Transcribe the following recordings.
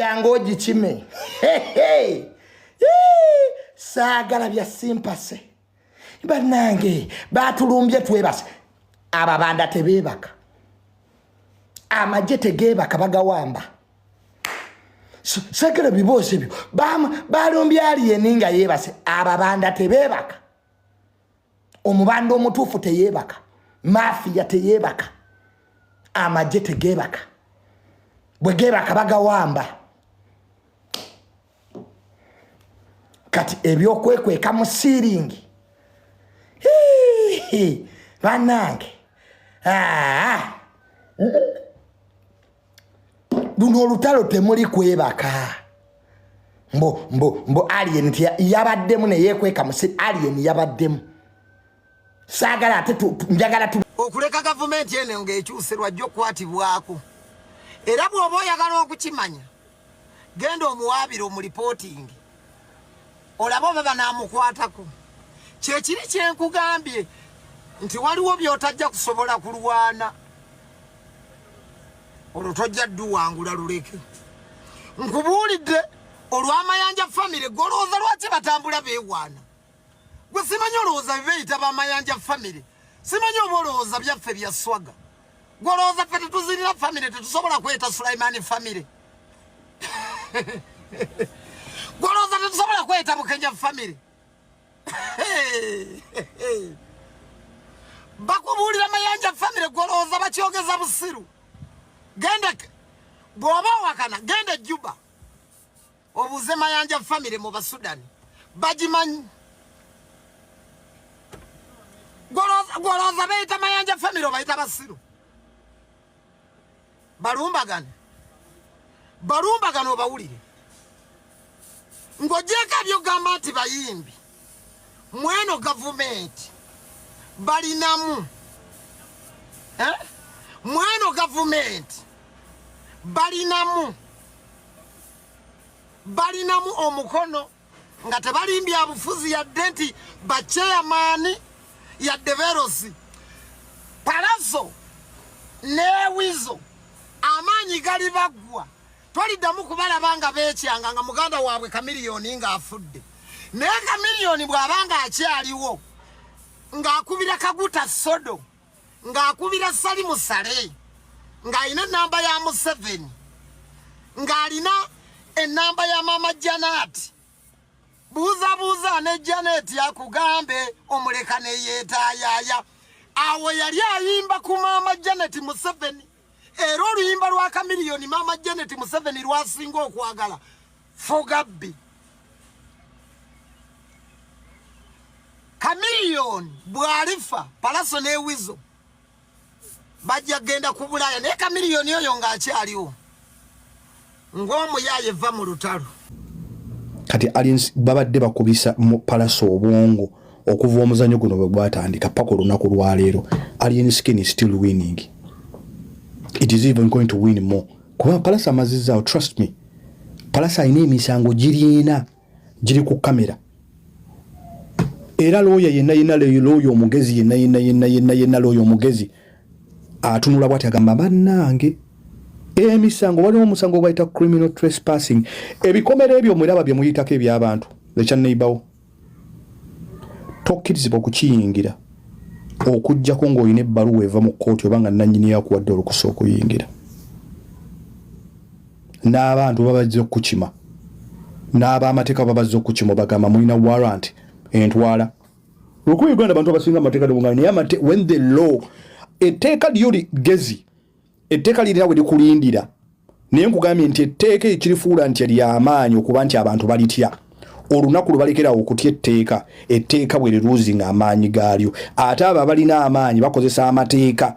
yanga ogikime saagala bya simpase banange batulumbye twebase ababanda tebeebaka amagye tegeebaka bagawamba sagala biboozi ebyo balumbye aliyeni nga yeebase ababanda tebeebaka omubanda omutuufu teyeebaka mafiya teyeebaka amagye tegeebaka bwe geebaka bagawamba kati ebyokwekweka mu siiringi banange ah. luno olutalo temuli kwebaka mbo mbo mbo alien yabaddemu neyekweka musi alien yabaddemu saagala ate njagala tu okuleka gavumenti eno ngaekyuse lwajja okukwatibwako era bw'oba oyagala okukimanya genda omuwaabire omulipootingi olabe oba banaamukwatako kyekiri kyenkugambye nti waliwo byotajja kusobola kulwana olwo tojja dduwangula luleke nkubuulidde olw'amayanja famire golowooza lwaki batambula beewaana gwe simanyi olowooza bibeyita bamayanja famire simanyi oba olowooza byaffe bya swaga gwe olowooza ffe tetuzirira famire tetusobola kweta sulaimani famire gwe olowooza tetusobola kweta bukenya famire bakubuulira mayanja famire gwe olowooza bakyogeza busiru genda bw'oba owakana genda ejjuba obuuze mayanja famire mu basudani bagimanyi gwolowooza beyita mayanja famire obayita basiru balumbagane balumbagane obawulire ng'ogyeko ebyogamba nti bayimbi mweno gavumenti balinamu eh? mweno gavumenti balinamu balinamu omukono nga tebalimbya bufuzi yadde nti bacheyamaani yadde berosi palazo newizo amaanyi gali baggwa Toliddamu kubalaba nga beekyanga nga muganda waabwe Kamiliyoni ng'afudde. Naye Kamiliyoni bw'aba ng'akyaliwo ng'akubira Kaguta Sodo ng'akubira Salimu Sale ng'alina ennamba ya Museveni ng'alina ennamba ya Maama Janaati buuzabuuza ne Janet akugambe omuleka ne yeetayaaya awo yali ayimba ku Maama Janet Museveni. era oluyimba lwa kamiliyoni maama janet museveni lwasinga okwagala fogabbi kamiliyoni bwalifa palaso newizo bajja kugenda ku bulaaya naye kamiliyoni oyo ng'akyaliwo ng'omuyaaye vva mu lutalo kati aliens babadde bakubisa mu palasa obwongo okuva omuzanyo guno bwe gwatandika paka olunaku lwaleero alien skin is still winning it is even going to win more kuba palasa amazizzaawo trust me palasa alina emisango giriina giri ku kamera era looya yenna yenna looya omugezi yenna yenna yenna yenna yenna looya omugezi atunula bwati agamba bannange emisango waliwo omusango gwaita criminal trespassing ebikomera ebyo mwiraba bye muyitako ebyabantu ekya neibawo tokkirizibwa okukiyingira okujjako ng'olina ebbaluwa eva mu kkooti oba nga nannyini yakuwadde olukusa okuyingira n'abantu babazze okukima n'abamateeka babazze okukima obagamba mulina warrant entwala lwokuba uganda abantu abasinga amateeka nebuganda naye amate when the law etteeka lyo ligezi etteeka lirina we likulindira naye nkugambye nti etteeka ekirifuula nti lyamaanyi okuba nti abantu balitya olunaku lubalekerawo okutya etteeka etteeka bwe liruuzi nga amaanyi gaalyo ate abo abalina amaanyi bakozesa amateeka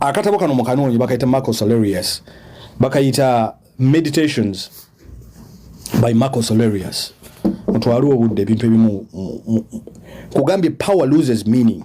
akatabo kano mukanoonye bakayita marcos alerius bakayita meditations by marcos alerius mutwale obudde ebintu ebimu kugambye power loses meaning